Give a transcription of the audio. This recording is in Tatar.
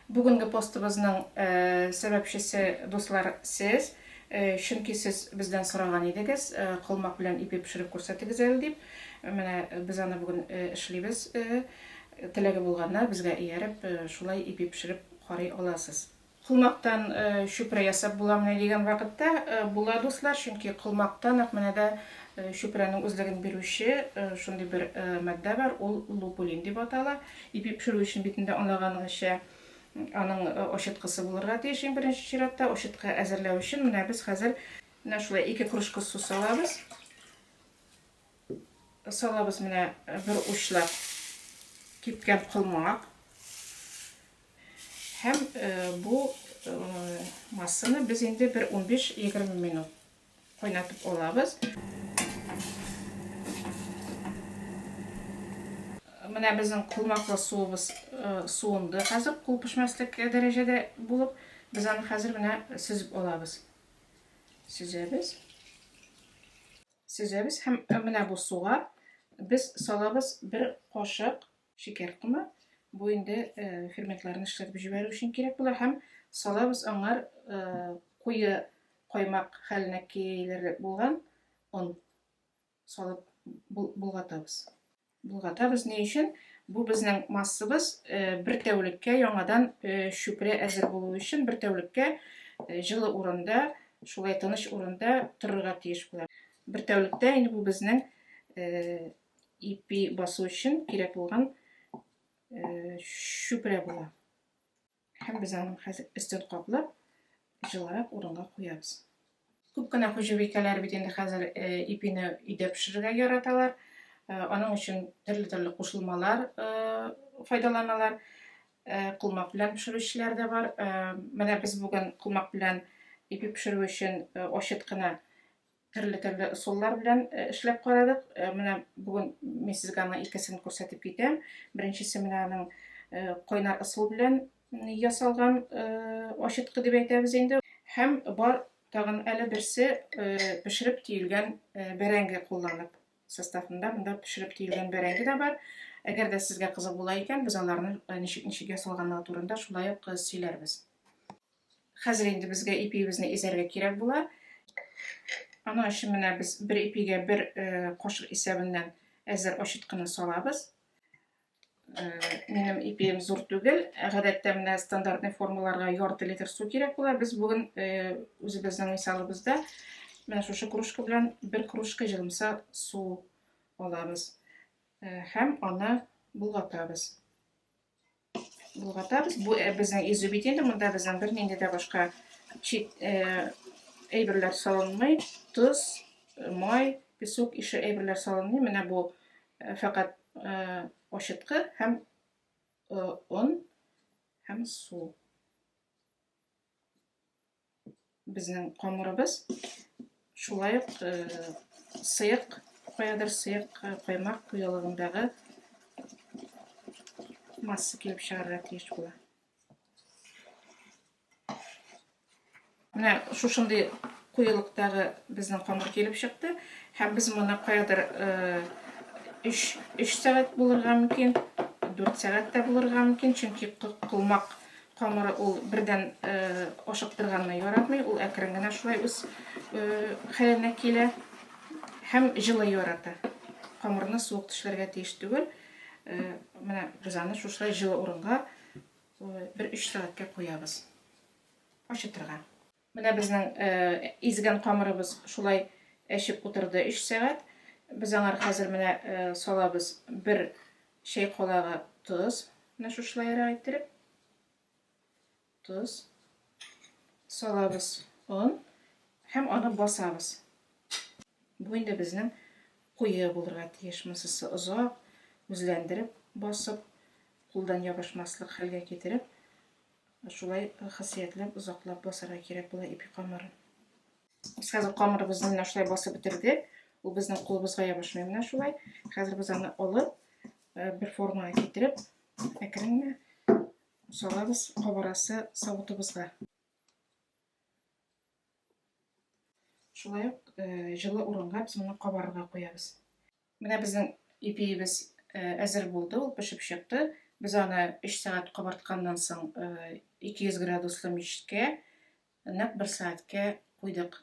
Бүгенге постыбызның сәбәпчесе, дуслар, сез. Чөнки сез бездән сораган идегез, колмак белән ипи пешереп күрсәтегез әле дип. Менә без аны бүген эшлибез. Теләге булганнар, безгә ияреп, шулай ипи пешереп карый аласыз. Колмактан чүпрә ясап буламыни дигән вакытта, була, дуслар, чөнки колмакта нәкъ менә дә чүпрәнең үзлеген бирүче шундый бер матдә бар, ул лупулин дип атала. Ипи пешерү өчен бит инде анлаганыңызча, аның очыткысы булырга тиеш иң беренче чиратта. Очытка әзерләү өчен менә без хәзер менә шулай ике кружка су салабыз. Салабыз менә бер учлап кипкән колмак. Һәм бу массаны без инде бер 15-20 минут Кайнатып алабыз. Менә безнең колмаклы суыбыз э, суынды. Хәзер кул пешмәслек дәрәҗәдә булып, без аны хәзер менә сөзеп алабыз. Сөзәбез. Сөзәбез һәм э, менә бу суга без салабыз бер кашык Шикәр комы, бу инде ферментларны эшләтеп җибәрү өчен кирәк була һәм салабыз аңар куе каймак хәленә килерлек булган он салып болгатабыз. Болгатабыз ни өчен? Бу безнең массыбыз бер тәүлеккә яңадан чүпрә әзер булу өчен бер тәүлеккә җылы урында, шулай тыныч урында торырга тиеш була. Бер тәүлектә инде бу безнең ипи басу өчен кирәк булган чүпрә була. Һәм без аның хәзер өстен каплап, җылырак урынга куябыз. Күп кенә хуҗабикәләр бит инде хәзер ипине өйдә пешерергә яраталар. Аның өчен төрле-төрле кушылмалар файдаланалар. Кулмак белән пешерүчеләр дә бар. Менә без бүген кулмак белән ипи пешерү өчен очыт кына Төрле төрле ысуллар белән э, эшләп карадык. Э, менә бүген мин сезгә аның икесен күрсәтеп китәм. Беренчесе менә аның э, кайнар ысул белән ясалган ачыткы дип әйтәбез инде. Һәм бар тагын әле берсе пешереп тиелгән бәрәңге кулланып составында монда пешереп тиелгән бәрәңге дә бар. Әгәр дә сезгә кызык була икән, без аларны ничек ничек ясалганлыгы турында шулай ук сөйләрбез. Хәзер инде безгә ипиебезне изәргә кирәк була. Аның өчен менә без бер ипигә бер э, кашык исәбеннән әзер очыткыны салабыз. Э, минем ипием зур түгел. Гадәттә менә стандартный формаларга ярты литр су кирәк була. Без бүген э, үзебезнең мисалыбызда менә шушы кружка белән бер кружка җылымса су алабыз һәм аны болгатабыз. Болгатабыз. Бу э, безнең изү бит инде, монда безнең бернинди дә башка чит э, әйберләр салынмый. Тоз, э, май, песок ише әйберләр салынмый. Менә бу фәкать ачыткы һәм он һәм су. безнең камырыбыз. Шулай ук э, сыек, каядыр сыек э, каймак куелыгындагы масса килеп чыгарга тиеш була. Менә шушындый куелыктагы безнең камыр килеп чыкты. Һәм без моны каядыр 3 э, сәгать булырга мөмкин, 4 сәгатьтә булырга мөмкин, чөнки кылмак Камыры ул бердән ашыктырганны яратмый, ул әкрен генә шулай үз хәленә килә һәм җылы ярата. Камырны суык төшләргә тиеш түгел. Менә без аны шушылай җылы урынга бер 3 сәгатькә куябыз. Ашытырга. Менә безнең изгән камырыбыз шулай әчеп утырды өч сәгать. Без аңар хәзер менә салабыз бер чәй калагы тоз. Менә шушылайрак иттереп. Тоз. Салабыз он һәм аны басабыз. Бу инде безнең куе булырга тиеш. Мысысы озак үзләндереп, басып, кулдан ябышмаслык хәлгә китереп, Шулай хасиятләп, озаклап басарга кирәк була ипи камырын. Без хәзер камырыбызны менә шулай басып бетердек. Ул безнең кулыбызга ябышмый менә шулай. Хәзер без аны алып, э, бер формага китереп, әкрен генә салабыз кабарасы савытыбызга. Шулай ук э, җылы урынга без моны кабарырга куябыз. Менә безнең ипиебез әзер булды, ул пешеп чыкты. Без аны 3 сәгать кабартканнан соң 200 градуслы мичкә нәкъ 1 сәгатькә куйдык.